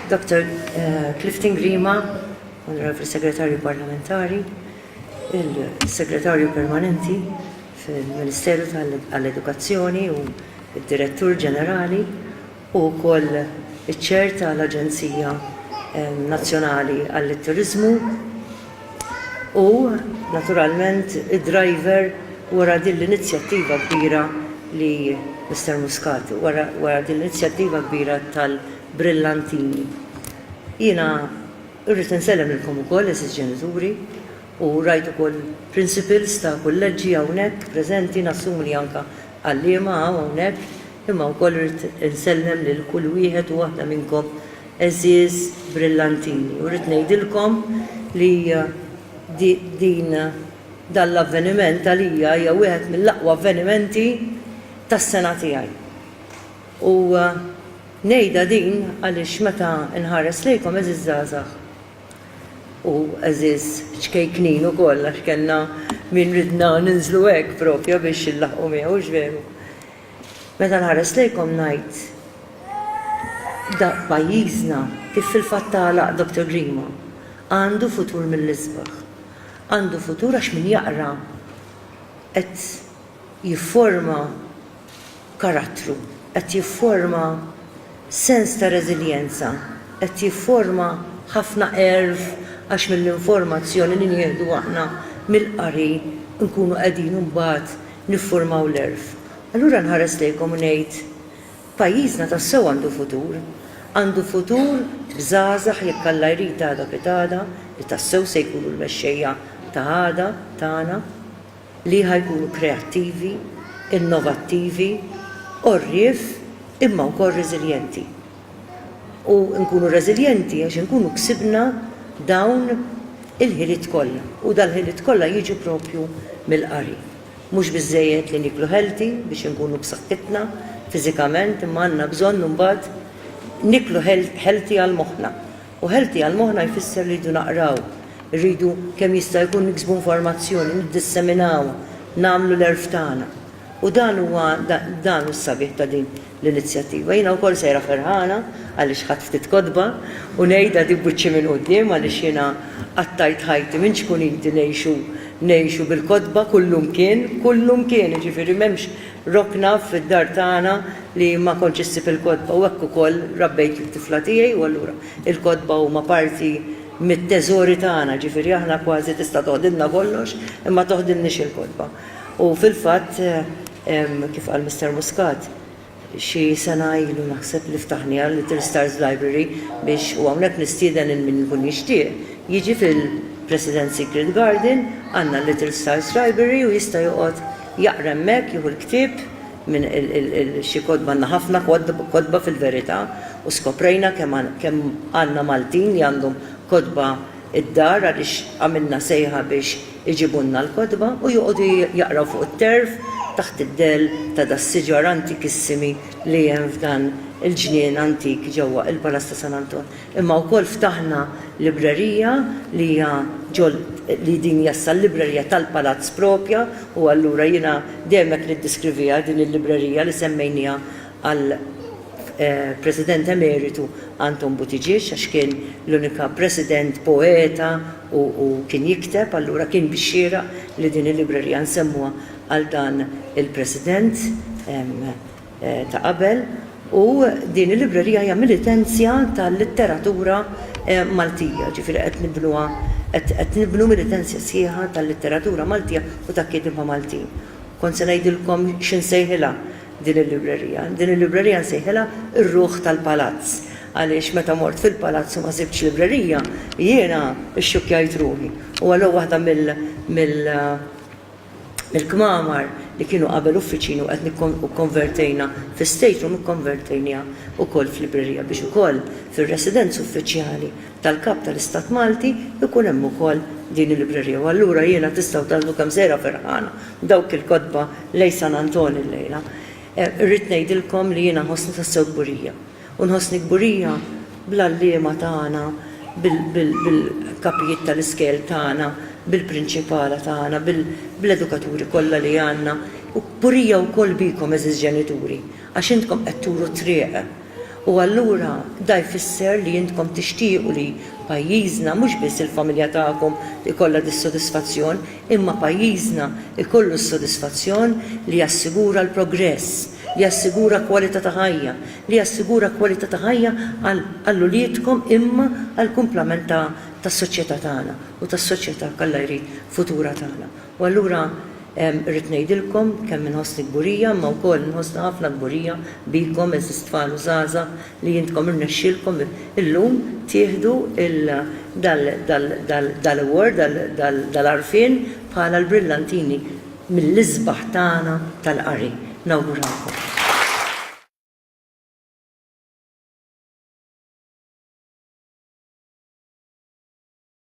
Dr. Eh, Clifton Grima, Onorevoli Segretarju Parlamentari, il-Segretarju Permanenti fil-Ministeru tal-Edukazzjoni u il-Direttur Ġenerali, Hu wkoll iċċerta l-Aġenzija Nazzjonali għall-Turiżmu u, naturalment, id-driver wara din l-inizjattiva kbira li Mister Muscat, wara din l-inizjattiva kbira tal-brillantini. Jiena rrid insellem lilkom ukoll, għeżież ġenituri, u rajt ukoll principals ta' kulleġġi hawnhekk preżenti, nassumi li anke għalliema hawn hawnhekk, Imma wkoll irrid insellem lil kull wieħed u waħda minnkom għeżież brillantini u rrid ngħidilkom li din dan l-avveniment għalija hija wieħed mill-aqwa avvenimenti tas-sena tiegħi. U ngħidha din għaliex meta nħares lejkom għeżież żgħażagħ u għeżież ċkejknin ukoll għax kellna min ridna ninżlu hekk propja biex inlaħħqu miegħu, hux veru? Meta nħares lejkom ngħid daqq pajjiżna kif fil-fatt tagħlaq Doctor Grima, għandu futur mill-isbaħ. Għandu futur għax min jaqra qed jifforma karattru, qed jifforma Sens ta' reżiljenza qed jifforma ħafna għerf għax mill-informazzjoni li nieħdu aħna mill-qari nkunu qegħdin imbagħad nifformaw l-għerf. Allura nħares lejkom u ngħid, pajjiżna tassew għandu futur. Għandu futur b'żgħażagħ jekk Alla jrid għada piegħada li tassew se jkunu l-mexxejja ta' għada tagħna. li ħa jkunu kreattivi, innovattivi, għorrief imma wkoll reżiljenti. U nkunu reżiljenti għax inkunu ksibna dawn il-ħiliet kollha u dal-ħiliet kollha jiġu proprju mill-qari. Mhux biżżejjed li nieklu healthy biex inkunu b'saħħitna fiżikament imma għandna bżonn imbagħad niklu healthy għal moħħna. U healthy għal moħħna jfisser li rridu naqraw, irridu kemm jista' jkun niksbu informazzjoni, niddisseminaw, nagħmlu l-għerf tagħna. U dan huwa dan hu s-sabiħ ta' din l-inizjattiva. Jiena wkoll sejra ferħana għaliex ħadt ftit kotba u ngħidha di b'wiċċi minn quddiem għaliex jiena qattajt ħajti minn ċkuniti ngħixu ngħixu bil-kotba kullumkien, kullumkien, jiġifieri m'hemmx Robbna fid-dar tagħna li ma kontx issib il-kotba u hekk ukoll rabbejt lit-tifla tiegħi u allura l-kotba huma parti mit-teżori tagħna, ġifieri aħna kważi tista' toħdilna kollox imma toħdilniex il-kotba. U fil-fatt, kif qal Mister Muscat, xi sena ilu naħseb li ftaħniha Little Stars Library biex, u hawnhekk nistieden lil min ikun jixtieq, jiġi fil-President Secret Garden, għandna Little Stars Library u jista' joqgħod Jaqra hemmhekk, jieħu l-ktieb minn xi kotba, għandna ħafna kotba fil-verità u skoprejna kemm għandna Maltin li għandhom kotba d-dar għaliex għamilna sejħa biex iġibulna l-kotba u joqogħdu jaqraw fuq it-terf taħt id-dell ta' das-siġar antikissimi li hemm f'dan il-ġnien antik ġewwa il-Palazz ta' San Anton. Imma wkoll ftaħna librerija li hija ġol li din hija issa l-librerija tal-palazz propja u allura jiena dejjem hekk niddiskrivija din il-librerija li semmejnieha għal President Emeritu Anton Buttigieg għax kien l-unika President poeta u u kien jikteb allura kien bix-xieraq li din il-librerija nsemmuha għal dan il-President. ta' qabel u din il-librerija hija militenzja tal-litteratura Maltija, ġifieri qed nibnuha qed qed nibnu militenzja sħiħa tal-litteratura Maltija u tal-kieddiema Maltin. Kont se ngħidilkom xi nsejħilha din il-librerija. Din il-librerija nsejħilha r-ruħ tal-palazz għaliex meta mort fil-palazz u ma sibtx librerija jiena xxukkjajt ruħi u allura waħda mill mill Il-kmamar li kienu qabel uffiċini u qed u kkonvertejna fi state room ikkonvertejniha wkoll f'librerija biex ukoll fir-residenza uffiċjali tal-Kap tal-Istat Malti jkun hemm ukoll din il-librerija u allura jiena tistgħu taraw kemm sejra ferħana b'dawk il-kotba lejn San Antonio llejla. Irrid ngħidilkom li jiena nħossni tassew kburija. U nħossni kburija bl-għalliema tagħna, bil-kapijiet tal-iskel tagħna, bil-prinċipala tagħna, bl-edukaturi kollha li għandna, u kburija wkoll bikom għeżież ġenituri, għax intkom qed turu t-triq. U allura da jfisser li intkom tixtiequ li pajjiżna, mhux biss il-familja tagħkom ikollha dis-sodisfazzjon, imma pajjiżna jkollu s-sodisfazzjon li jassigura l-progress, li jassigura kwalità ta' ħajja, li jassigura kwalità ta' ħajja għal uliedkom imma għall-kumplament tas-soċjetà tagħna u tas-soċjetà, k'Alla jrid, futura tagħna. U allura rrid ngħidilkom kemm inħossni kburija imma wkoll inħossni ħafna kburija bikom għeżież tfal u żgħażagħ li intkom irnexxielkom illum tieħdu dal-award, dal-għarfien bħala l-brillantini mill-isbaħ tagħna tal-qari. Nawguralkom.